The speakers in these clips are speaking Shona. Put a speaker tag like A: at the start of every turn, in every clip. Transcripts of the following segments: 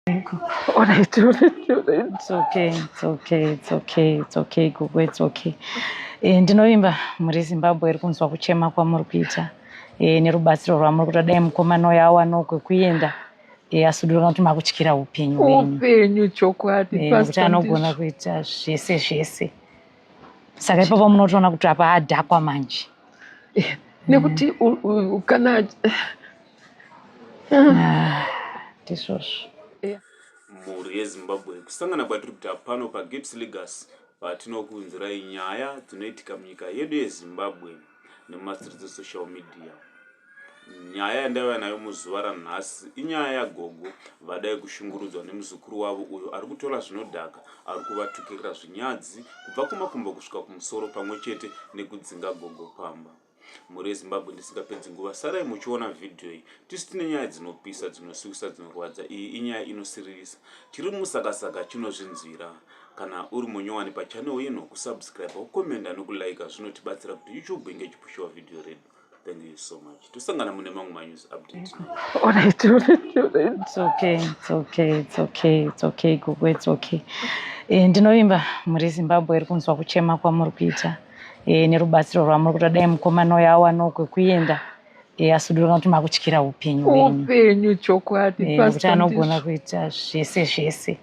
A: Alright, alright, alright.
B: It's okay, it's okay, it's okay, it's okay, Gogo, it's okay. Eh, ndinovimba muri Zimbabwe iri kunzwa kuchema kwamuri kuita eh, nerubatsiro rwamuri kuita dai mukomana uyo awana kwekuenda eh, asudura kana kuti makutyira upenyu hwenyu upenyu
A: chokwadi Eh, nekuti pastor anogona ndizvo.
B: kuita zvese zvese saka ipapo munotoona kuti apa adhakwa manje
A: nekuti u- u- kana
B: Ah, ndizvozvo. Eh,
C: mhuri yezimbabwe kusangana kwatiri kuita pano pagips legas patinokunzirai nyaya dzinoitika munyika yedu yezimbabwe nemumasiridzi social media nyaya yandaiva nayo muzuva ranhasi inyaya yagogo vadai kushungurudzwa nemuzukuru wavo uyo ari kutora zvinodhaka ari kuvatukirira zvinyadzi kubva kumakumbo kusvika kumusoro pamwe chete nekudzinga gogo pamba Mhuri yeZimbabwe ndisingapedzi nguva sarai muchiona video iyi tisi tine nyaya dzinopisa dzinosuwisa dzinorwadza iyi inyaya inosiririsa tiri musakasaka chinozvinzwira kana uri munyowani pachannel ino kusubscribe kukomenda nekulaika zvinotibatsira kuti youtube inge ichipushiwa video redu thank you so much tosangana mune mamwe manews update alright alright
A: alright it's okay it's
B: okay it's okay it's okay gogo it's okay eh, ndinovimba muri zimbabwe iri kunzwa kuchema kwamuri kuita e, nerubatsiro rwamuri kuda dai mukomana uyo awanawo kwekuenda e, eh, asudurika kuti makutyira upenyu upenyu chokwadi e,
A: kuti anogona
B: kuita zvese zvese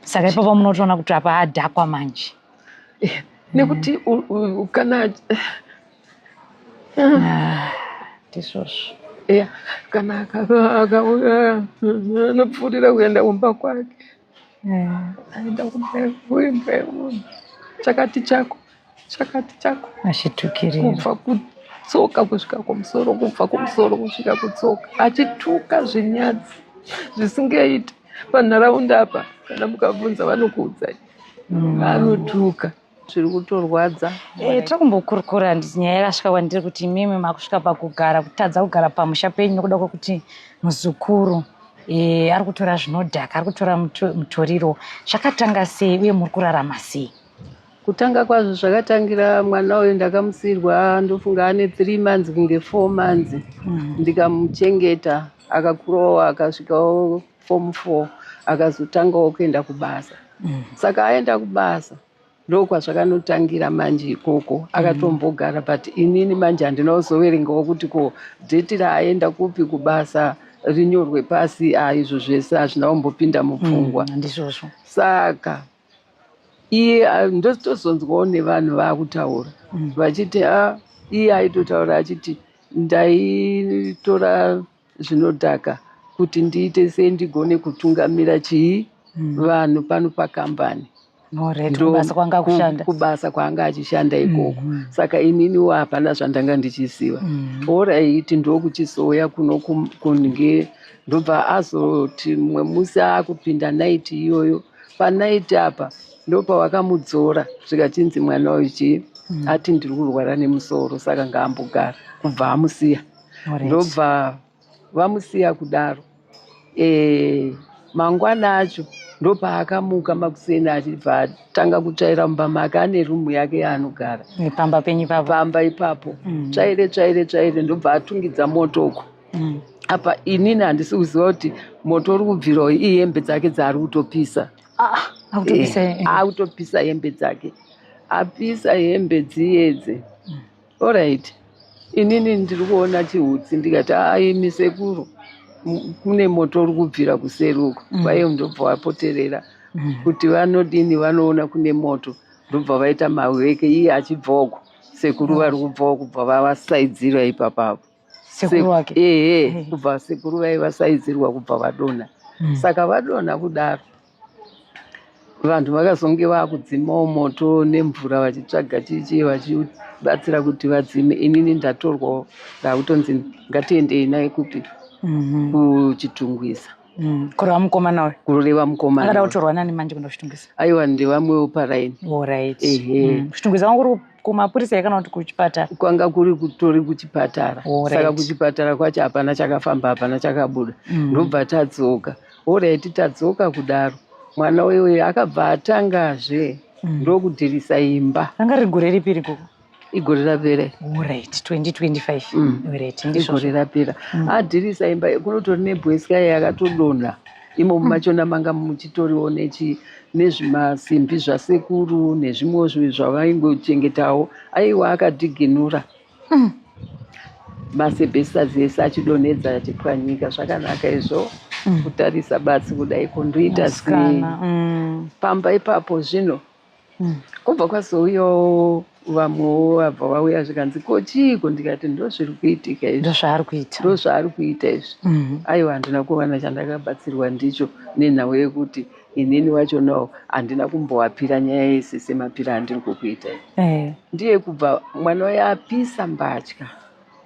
B: saka ipapo munotoona kuti apa adhakwa manje
A: nekuti kana ah,
B: ndizvozvo
A: kana akauya anopfuurira kuenda kumba kwake aida kubeurwa chakati chako chakati chako achitukirira
B: kubva kutsoka
A: kusvika kumusoro kubva kumusoro kusvika kutsoka achituka zvinyadzi zvisingaiti panharaunda apa kana mukabvunza vanokuudzai mm. anotuka mm. zviri kutorwadza eh, tiri kumbokurukura
B: handiti nyaya yakasvika kwandiri kuti imimi makusvika pakugara kutadza kugara pamusha penyu nokuda kwekuti muzukuru eh, ari kutora zvinodhaka ari kutora mutoriro zvakatanga sei uye muri kurarama sei kutanga
A: kwazvo zvakatangira mwana uyu ndakamusirwa ndofunga ane three months kunge four months mm. ndikamuchengeta akakurowa akasvikawo form four akazotangawo kuenda kubasa mm. saka aenda kubasa ndokwazvakanotangira manje ikoko mm. akatombogara mm. but inini manje handina kuzoverengawo kuti ko dheti raaenda kupi kubasa rinyorwe pasi a izvo zvese hazvina kumbopinda mupfungwa mm, ndizvozvo
B: saka
A: iye ndotozonzwawo nevanhu vaakutaura mm. vachiti a iye aitotaura achiti ndaitora zvinodhaka kuti ndiite sei ndigone kutungamira chii hmm. vanhu pano pakambani kubasa kwaanga achishanda hmm, ikoko hmm. saka ininiwo hapana zvandanga ndichiziva oraiti ndokuchizouya kuno kunge ndobva azoti mumwe musi akupinda naiti iyoyo panaiti apa ndopawakamudzora zvikachinzi mwana uyu chii ati ndiri kurwara nemusoro saka ngaambogara kubva amusiya ndobva vamusiya kudaro e, mangwana acho ndopaakamuka makuseni achibva atanga kutsvaira mumba make ane rumu yake yaanogara pamba penyu ipapo
B: pamba ipapo mm.
A: tsvaire tsvaire tsvaire ndobva atungidza moto uko mm. apa inini handisi kuziva kuti moto uri kubvirawo ihembe dzake dzaari kutopisa ah, akutopisa ah, eh, eh. hembe dzake apisa hembe dziyedze mm. Alright. Inini ndiri kuona chihutsi ndikati aimi sekuru kune moto uri kubvira kuseri uko mm. kwaiye ndobva wapoterera mm. kuti vanodini vanoona kune moto ndobva vaita maweke iye achibvoko sekuru vari kubvawo kubva vavasaidzira ipapapo
B: ehe kubva sekuru
A: vaivasaidzirwa kubva vadonha mm. saka vadonha kudaro vanhu vakazonge vakudzimawo moto nemvura vachitsvaga chichi vachibatsira kuti vadzime inini ndatorwawo ndakutonzi ngatiendei naye kupi mhm. kuchitungwiza Mm. kureva mukomana
B: uyu kureva mukomana akada
A: kutorwa nani manje kuenda
B: kuchitungwiza aiwa ndevamwewo
A: paraini orit oh,
B: mm. kuchitungwiza kwanga kuri kumapurisa here kana kuti kuchipatara kwanga kuri kutori
A: kuchipatara oh, saka kuchipatara kwacho hapana chakafamba hapana chakabuda mm. ndobva tadzoka Horaiti tadzoka kudaro mwana uyoyo akabva atangazve mm. ndokudhirisa imba anga riri gore ripi iri
B: gogo igore rapera
A: orit
B: 2025igore
A: rapera adhirisa
B: imba
A: kunotori nebweswa yaye
B: akatodonha
A: imomo mm. machona manga muchitoriwo nechi nezvimasimbi zvasekuru nezvimwe zvavaingochengetawo aiwa akadhiginura Hmm. Masebhesitazi ese achidonhedza achipwanyika zvakanaka izvo hmm. kutarisa basi kudai kundoita zii hmm. pamba ipapo zvino kubva kwazouyawo vamwewo vabva vauya zvikanzi ko chiiko ndikati ndozviri kuitika izvi ndozvaari kuita ndozvaari kuita izvi aiwa handina kuwana chandakabatsirwa ndicho nenhau yekuti inini wacho no handina kumbowapira nyaya yese semapira andiri kukuita eh. ndiye kubva mwana uya apisa mbatya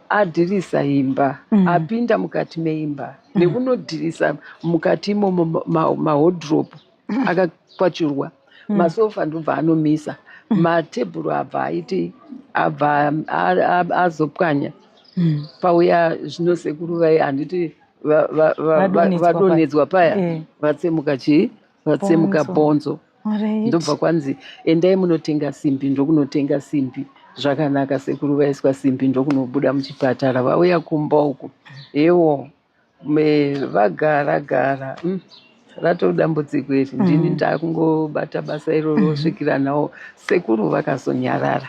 A: adhirisa imba mm. apinda mukati meimba mm. nekunodhirisa mukati imomo mahodrop ma, ma mm. akakwachurwa mm. masofa ndobva anomisa mm. matebhuru abva aiti abva azopwanya mm. pauya zvino sekuru vaye handiti va- va- va- va- Vadonhedzwa paya. vadonhedzwa paya Eh. vatsemuka chii vatsemuka Bhonzo. bhonzo Alright. ndobva kwanzi endai munotenga simbi ndokunotenga simbi zvakanaka sekuru vaiswa simbi ndokunobuda muchipatara vauya kumba uku ewo me- vagara gara mm, ratove dambudziko iri ndini ndakungobata basa iroro svikira nawo sekuru vakazonyarara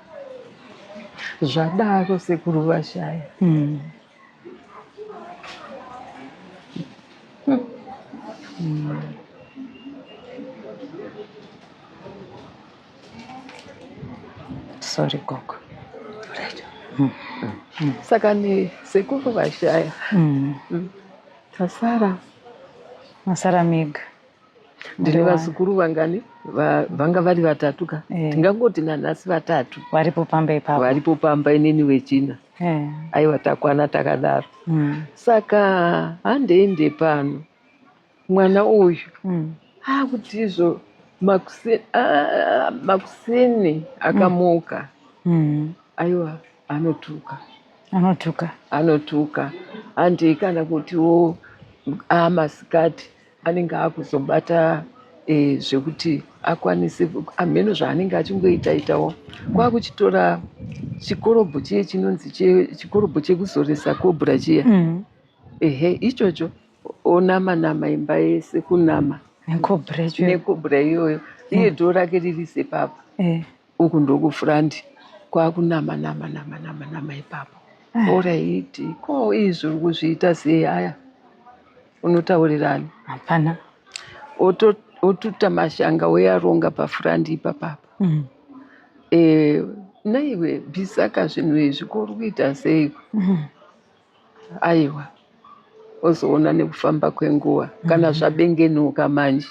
A: zvadaro sekuru vashaya mm. Mm.
B: sorry gogo right.
A: mm. mm. saka ni sekuru vashaya mm. mm. tasara masara
B: mega
A: ndine vazukuru vangani vanga vari vatatu ka eh. tingangoti nanhasi vatatu varipo pamba ipapo
B: varipo pamba inini
A: wechina eh. aiwa takwana takadaro hmm. saka handei ndepano mwana uyu hmm. akuti izvo makuseni akamuka hmm. aiwa anotuka anotuka anotuka handei kana kutiwo amasikati anenge akuzobata e, eh, zvekuti akwanise amheno zvaanenge achingoita itawo kwakuchitora chikorobho chiye chinonzi chikorobho chekuzoresa kobra chiya mm -hmm. ehe ichocho onama nama imba yese kunama nekobra iyoyo iye mm. dhoo rake riri sepapa eh. uku ndokufront kwakunama nama nama nama nama ipapo ah. oraiti ko izvi uri kuzviita sei aya unotaurirani hapana otuta mashanga oyaronga pafront ipapapa mm. e, naiwe bvisaka zvinhu izvi ko uri kuita sei mm. aiwa ozoona nekufamba kwenguva kana mhm. zvabengenuka manje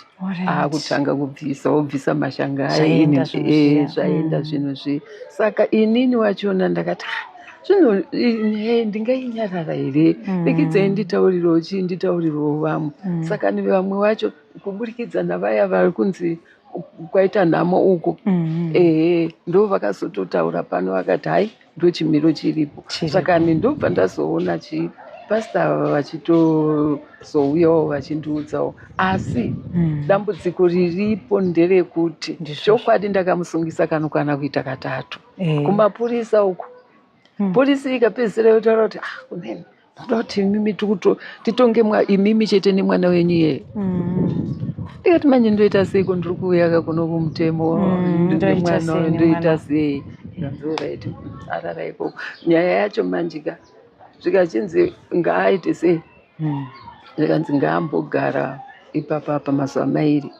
A: aakutanga kubvisa obvisa mashanga aini eh, zvaenda mm. zvinhu zviye saka inini wachona ndakati ah, zvino eh, ndingainyarara here pikidzai mm. nditaurirewo chii nditaurirewo vamwe mm. saka ni vamwe wacho kuburikidza navaya vari kunzi kwaita nhamo uko ehe ndo vakazototaura pano vakati hai ndochimiro chiripo saka ndobva ndazoona chi pasta ava vachitozouyawo vachindiudzawo asi mm. dambudziko riripo nderekuti chokwadi ndakamusungisa kano kana kuita katatu mm. kumapurisa uko mm. purisi ikapedzisira yotaura kuti ah kunene Kuda kuti imimi tikuto titonge mwa imimi chete nemwana wenyu iye. Ndikati manje ndoita sei ko ndiri kuuya ka kuno kumutemo Mm, ndoita nemwana sei nemwana? ndoita sei. Ndazora iti arara ikoko. Nyaya yacho manje ka zvikachinzi ngaaite sei zvikanzi ngaambogara ipapa apa mazuva mairi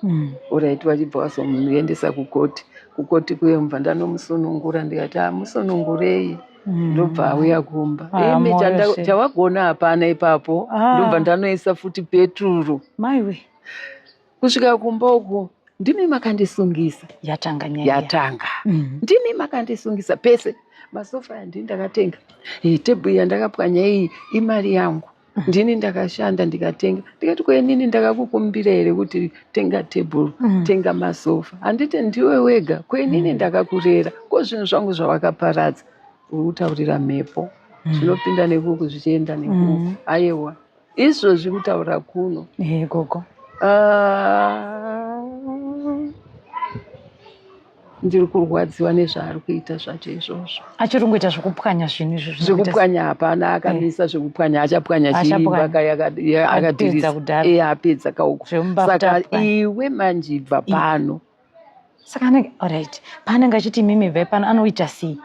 A: orit vachibva vazomuendesa kukoti kukoti kuye mubva ndanomusunungura ndikati amusunungurei Mm. ndobva auya kumba Ah, imi moyo chanda- se. chawagona hapana ipapo Ah. ndobva ndanoisa futi peturu maiwe
B: kusvika
A: kumba uku ndimi makandisungisa yatanga nyaya yatanga
B: Mm. ndimi
A: makandisungisa pese masofa yandii ndakatenga iyi tebhuru yandakapwanya iyi imari yangu ndini ndakashanda ndikatenga ndikati kwenini ndakakukumbira here kuti tenga table mm. tenga masofa handiti ndiwe wega kwenini mm. ndakakurera ko zvinhu zvangu zvawakaparadza uri kutaurira mhepo mm. zvinopinda mm. nekuku zvichienda nekuku mm. ayewa izvozvi kutaura kuno hey, gogo uh, ndiri kurwadziwa nezvaari kuita zvacho izvozvo achiri kungoita zvekupwanya
B: zvinhu izvozvo zvekupwanya hapana
A: akamisa eh. zvekupwanya achapwanya chiimbakaakadirisaapedza eh, kauko saka iwe manje ibva pano saka
B: anenge orit paanenge achiti mimi bva pano anoita sei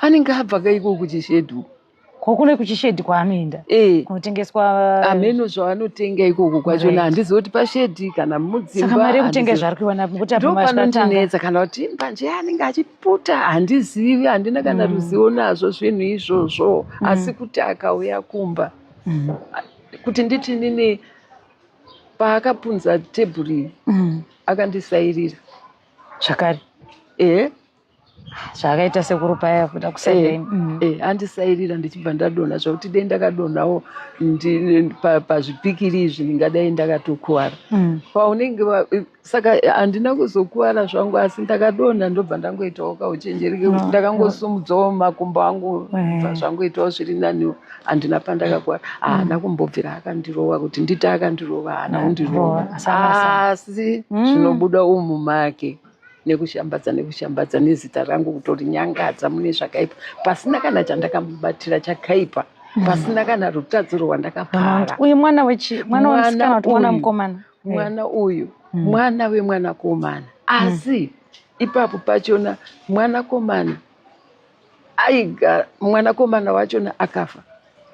A: anenge abva kaiko kuchishedu ko kune kuchishedhi
B: kwaanoenda eh. kunotengeswa hameno
A: zvaanotenga ikoko kwachona handizivi kuti pashedhi kana mudzimba mari yekutenga zvaari
B: kuiwana kuti apanondinetsa kana
A: kuti mbanje anenge achiputa handizivi handina kana mm. ruzivo nazvo zvinhu izvozvo mm. asi kuti akauya kumba mm. kuti nditi nini paakapunza tebhuri akandisairira
B: zvakare ehe zvaakaita sekuru paya kuda kusaidei eh, mm. eh, andisairira
A: ndichibva ndadonha zvakuti dei ndakadonhawo pazvipikiri izvi ndingadai ndakatokuvara mm. paunenge saka handina kuzokuvara zvangu asi ndakadonha ndobva ndangoitawo kauchenjeri kekuti mm. ndakangosumudzawo makumbo angu bva eh. zvangoitawo zviri naniwo handina pandakakuvara haana kumbobvira akandirova kuti nditi akandirova haana kundirova asi zvinobuda umu make nekushambadza nekushambadza nezita rangu kutorinyangadza mune zvakaipa pasina kana chandakamubatira chakaipa hmm. pasina kana rutadziro rwandakapara uyu mwana wechi
B: mwana wemusikana kuti mwana mukomana mwana uyu
A: hmm. mwana wemwanakomana hmm. asi ipapo pachona mwanakomana aiga mwanakomana wachona akafa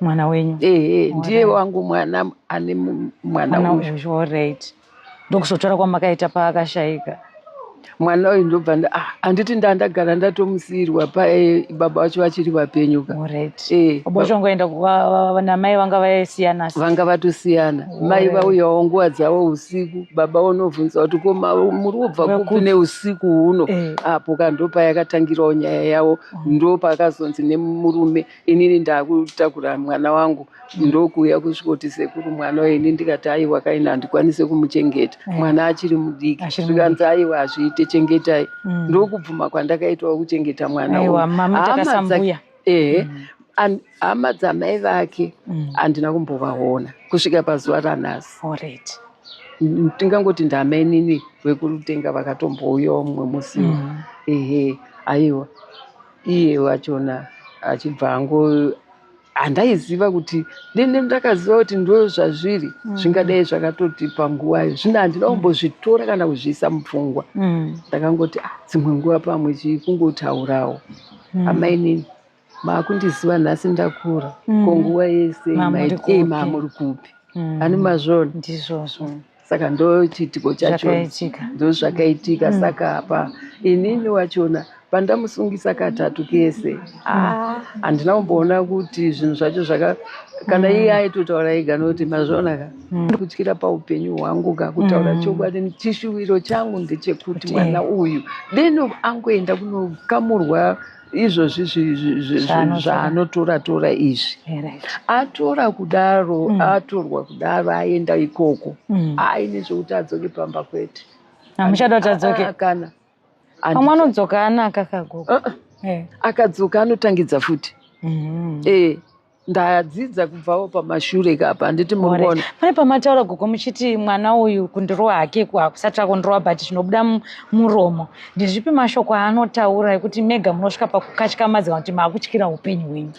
A: mwana wenyu
B: ehe ndiye wangu
A: mwana ane mwana uyu
B: ndokuzotora kwamakaita paakashaika mwana
A: uyu ndobva ah, handiti nda ndagara ndatomusiyirwa pae baba vacho vachiri vapenyu ka eh, bochongoenda
B: namai vanga vasiyana vanga vatosiyana
A: mai vauyawo nguva dzavo usiku baba unobvunza kuti ko muri kubva kupi neusiku huno eh. apo ka ndopayakatangirawo nyaya yavo ndopaakazonzi nemurume inini ndakutakura mwana wangu ndokuuya kusvikoti sekuru mwana uyu ini ndikati aiwa kaini handikwanise kumuchengeta eh. mwana achiri mudiki zvikanzi aiwa hazviite chengetai mm. ndokubvuma kwandakaitwa kuchengeta mwana uyu ehe mm. hama dzamai vake mm. handina kumbovaona kusvika pazuva ranhasi tingangoti ndamainini vekurutenga vakatombouyawo mumwe musiwo ehe aiwa iye wachona achibva ango handaiziva kuti nene ndakaziva kuti ndo zvazviri mm. zvingadai zvakatoti panguva iyo zvino handina kumbozvitora kana kuzviisa mupfungwa mm. ndakangoti ah, dzimwe nguva pamwe chii kungotaurawo mm. amainini maakundiziva nhasi ndakura ko nguva yese maamuri kupi ani mazvona ndizvozvo saka ndochiitiko chacho ndozvakaitika mm. saka apa inini wachona pandamusungisa katatu kese ah. handina ah, kumboona kuti zvinhu zvacho zvaka kana mm. iye aitotaura ega nokuti mazviona ka mm. kutyira paupenyu hwangu ka kutaura mm. chokwadi chishuwiro changu ndechekuti mwana uyu deno angoenda kunokamurwa izvozvi zvaanotora tora izvi eh, atora kudaro mm. atorwa kudaro aenda ikoko mm. aine zvekuti adzoke pamba kwete amuchada kuti
B: adzoke ah, kana
A: pamwe anodzoka
B: anaka kagogo uh-uh. eh. akadzoka
A: anotangidza futi mm-hmm. eh. ndadzidza kubvawo pamashure kapa handiti murikuona pane pamataura gogo
B: muchiti mwana uyu kundirova hake hakusatsva kundirova but zvinobuda muromo ndezvipi mashoko aanotaura ekuti mega munosvika pakukatyamadza kuti maakutyira upenyu hwenyu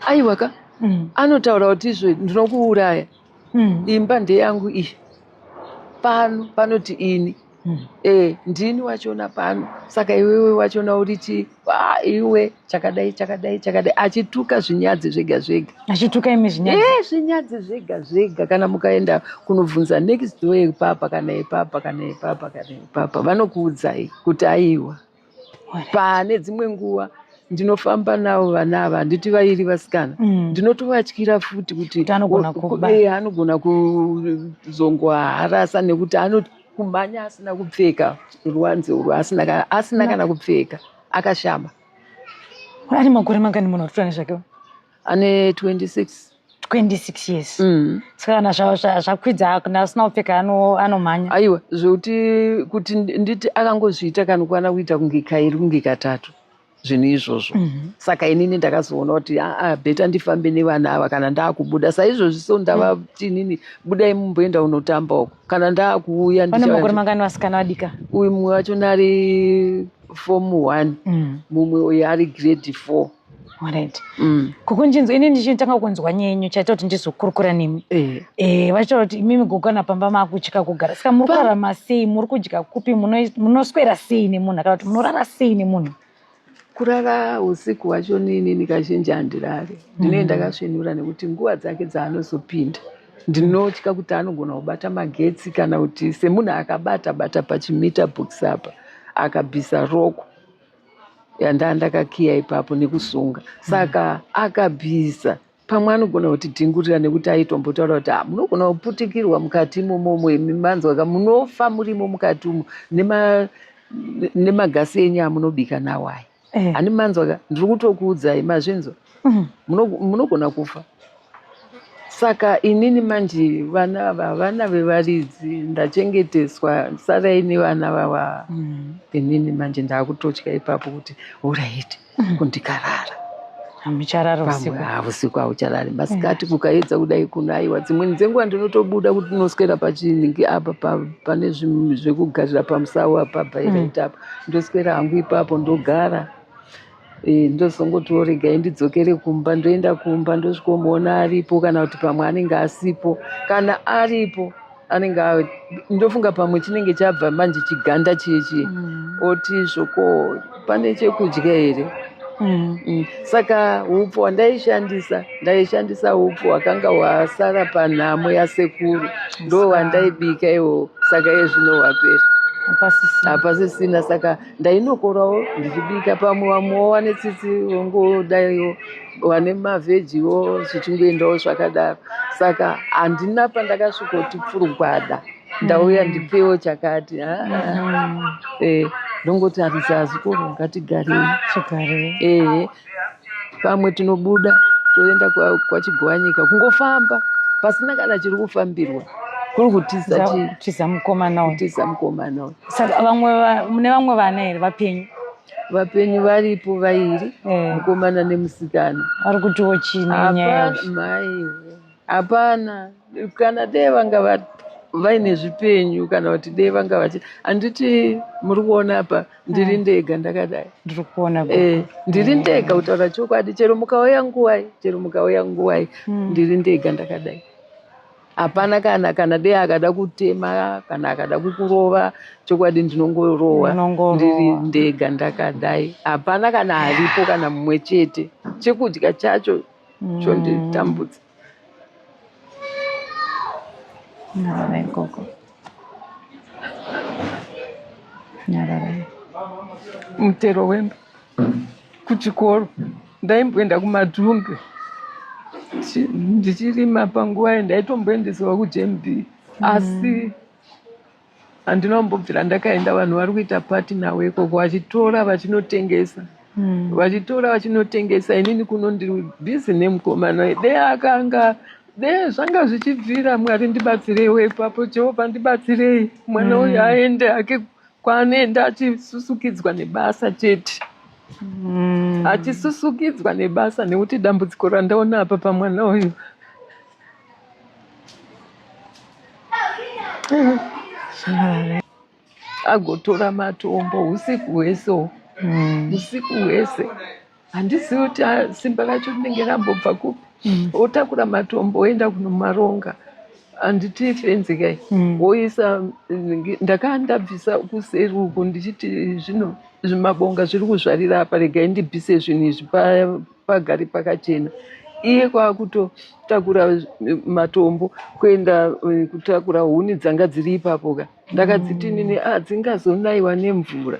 B: aiwa ka
A: mm. anotaura kuti izvo ndinokuuraya mm. imba ndeyangu iyi pano panoti ini Hmm. Eh, ndini wachona pano saka iwewe wachona uri chi ah, iwe chakadai chakadai chakadai achituka zvinyadzi zvega zvega achituka imi zvinyadzi
B: eh, zvinyadzi zvega
A: zvega kana mukaenda kunobvunza next door ipapa kana ipapa kana ipapa kana ipapa vanokuudzai kuti aiwa pane dzimwe nguva ndinofamba navo vana ava handiti vairi vasikana mm. ndinotovatyira futi kuti eh, anogona kuzongoharasa nekuti anokumhanya asina kupfeka ruwanze urwu asina kana kupfeka akashama
B: ari makore mangani munhu atotora
A: nezvake ane 26 26
B: years mm. ska kana zvakwidza kana asina kupfeka anomhanya aiwa zvekuti
A: kuti nditi akangozviita kana kwana kuita kunge kairi kunge katatu zvinhu izvozvo mm -hmm. saka inini ndakazoona kuti aa ah, ah, bheta ndifambe nevana ava kana ndaakubuda saizvozvi so ndavati mhm. inini budai mumboenda unotamba uko kana ndaakuuya ndiamakore mangani
B: vasikana vadika uyu mumwe wacho nari
A: form one mm. mumwe uyo ari grade four Alright.
B: Mm. Kukunjinzwa ini ndichitanga kunzwa nyenyu chaita kuti ndizokurukura nemi. Eh. Eh, vacho kuti imimi gogana pamba makutya kugara. Saka muri kurarama sei? Muri kudya kupi? Munoswera sei nemunhu kana kuti munorara sei nemunhu? Kurara
A: usiku wacho nini nikazhinji handirari. Ndine mm. ndakasvinura nekuti nguva dzake dzaanozopinda. Ndinotya kuti anogona kubata magetsi kana kuti semunhu akabata bata pachimita box apa akabvisa roko. yandandakakiya ipapo nekusunga saka mm. akabvisa pamwe anogona kuti dhingurira nekuti aitombotaura kuti ah, munogona kuputikirwa mukati imomomo imi manzwa ka munofa murimo mukati umo nemagasi enyu amunobika nawo aya eh. ani manzwa ka ndiri kutokuudzai mazvinzwa Mm, muno- munogona kufa saka inini manje vana ava vana vevaridzi ndachengeteswa sarai nevana vava Mm. inini manje ndaakutotya ipapo kuti uraiti kundikarara Hamucharara
B: pamwe usiku. haa usiku haucharari
A: masikati kukaedza kudai kunaiwa dzimweni dzenguva ndinotobuda kuti ndinoswera pachinhingi apa pa- pane zvim- zvekugarira pamusawa apa bhairaita apa ndoswera hangu ipapo ndogara Eh, ndozongotiwo regai ndidzokere kumba ndoenda kumba ndosvikomuona aripo kana kuti pamwe anenge asipo kana aripo anenge ndofunga pamwe chinenge chabva manje chiganda chiye chiye mm. oti zvoko pane chekudya here mm. Mm. saka upfu hwandaishandisa ndaishandisa upfu hwakanga hwasara panhamo yasekuru ndo hwandaibika iwo saka ezvino hwapera hapasisina saka ndainokorawo ndichibika pamwe vamwe wawane tsitsi vongodaiwo vane mavhejiwo zvichingoendawo zvakadaro saka handina pandakasvikoti pfurugwada ndauya mm. ndipewo chakati mm. eh, ndongoti hanzi hazikoro ngatigarei ehe pamwe tinobuda toenda kwachigowanyika kungofamba pasina kana chiri kufambirwa kuri kutiza tiza mukomana uyu tiza mukomana uyu
B: saka vamwe mune vamwe vana here vapenyu vapenyu
A: varipo vairi eh. mukomana nemusikana vari kutiwo
B: chii nenyaya yavo maiwe hapana
A: kana dee vanga vaine zvipenyu kana kuti dee vanga vachi handiti muri kuona apa ndiri hmm. ndega ndakadai ndiri kuona eh,
B: ndiri hmm. ndega
A: kutaura chokwadi chero mukauya nguvai chero mukauya nguvai hmm. ndiri ndega ndakadai hapana kana kana dee akada kutema kana akada kukurova chokwadi ndinongorowa ndiri ndega ndakadai hapana kana aripo kana mumwe chete chekudya chacho chonditambudza
B: nyarara ikoko nyarara
A: mutero wemba kuchikoro ndaimboenda kumadhumbe ndichirima panguva ye ndaitomboendesewa kujmb asi mm. handina kumbobvira ndakaenda vanhu vari kuita pati nawo ikoko vachitora vachinotengesa hmm. vachitora vachinotengesa inini kuno ndiri bhizi nemukomana de akanga de zvanga zvichibvira mwari ndibatsireiwo ipapo jehovha ndibatsirei mwana hmm. uyu aende ake kwaanoenda achisusukidzwa nebasa chete hmm. achisusukidzwa nebasa nekuti dambudziko randaona apa pamwana uyu agotora matombo usiku hwese hmm. usiku hwese handizivi kuti simba racho rinenge rambobva kupi hmm. otakura matombo oenda kunomaronga handiti fenzikai hmm. woisa ndakaa ndabvisa kuseri uku ndichiti zvino zvimabonga zviri kuzvarira apa regai ndibvise zvinhu izvi paya pagari pakachena iye kwakutotakura matombo kuenda eh, kutakura huni dzanga dziri ipapo ka ndakadziti mm. nini ah, dzingazonaiwa nemvura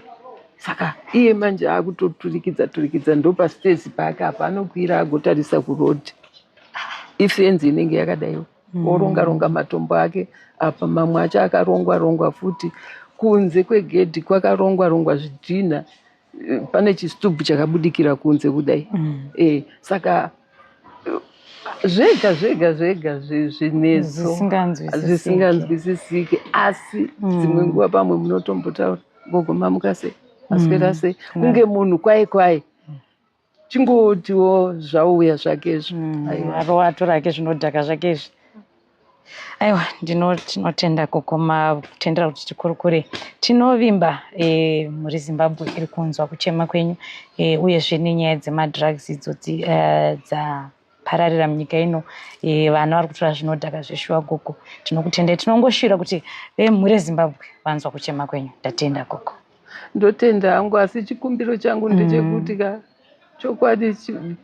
A: saka iye manje akutoturikidza turikidza ndopastezi paake apa anokwira agotarisa kuroad ifenzi inenge yakadaiwo mm. oronga ronga matombo ake apa mamwe acho akarongwa rongwa futi kunze kwegedhi kwakarongwa rongwa zvidhinha pane chistubhu chakabudikira kunze kudai mm. e, saka zvega zvega zvega zvinetso zvisinganzwisisike asi mm. dzimwe nguva pamwe munotombotaura gogo mamuka sei maswera mm. sei kunge munhu kwaye kwaye chingotiwo zvauya zvake izvi mm, arowa atora
B: ake zvinodhaka zvake izvi aiwa ndinotinotenda kukoma kutendera kuti tikurukure tinovimba e, muri zimbabwe iri kunzwa kuchema kwenyu e, uyezve nenyaya dzemadrugs idzo e, dza pararira munyika ino e, vana vari kutora zvinodhaka zveshuwa gogo tinokutendai tinongoshira kuti vemhuri ezimbabwe vanzwa kuchema kwenyu ndatenda gogo ndotenda
A: hangu asi chikumbiro changu ndechekuti ka chokwadi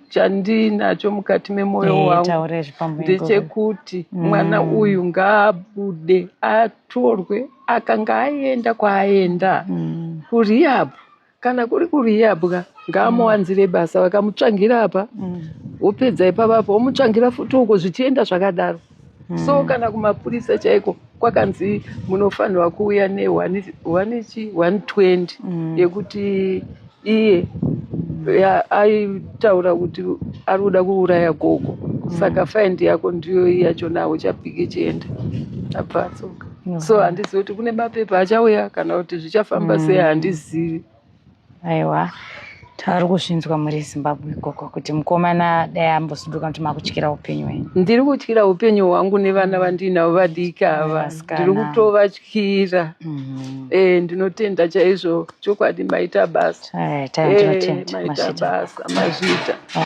A: chandiinacho mukati memwoyo eh, wangu ndechekuti mm. mwana uyu ngaabude atorwe akanga aenda kwaaenda mm. kuriapo kana kuri kuriyabwa ngaamuwanzire basa vakamutsvangira apa wopedza ipapa apa womutsvangira futi uko zvichienda zvakadaro so kana kumapurisa chaiko kwakanzi munofanirwa kuuya ne one- one chi- 120 yekuti iye ya- aitaura kuti ari kuda kuuraya gogo saka faindi yako ndiyo iyi yacho nawo chapiki chienda abva atsoka no. so handizivi kuti kune mapepa achauya kana kuti zvichafamba mm. sei handizivi aiwa
B: tari kuzvinzwa muri zimbabwe ikoko kuti mukomana dai ambosuduka kuti makutyira upenyu wenyu ndiri kutyira upenyu hwangu
A: nevana vandiinavo vadiki ava ndiri kutovatyira mm-hmm. eh, ndinotenda chaizvo chokwadi maita basa eh, maita basa mazviita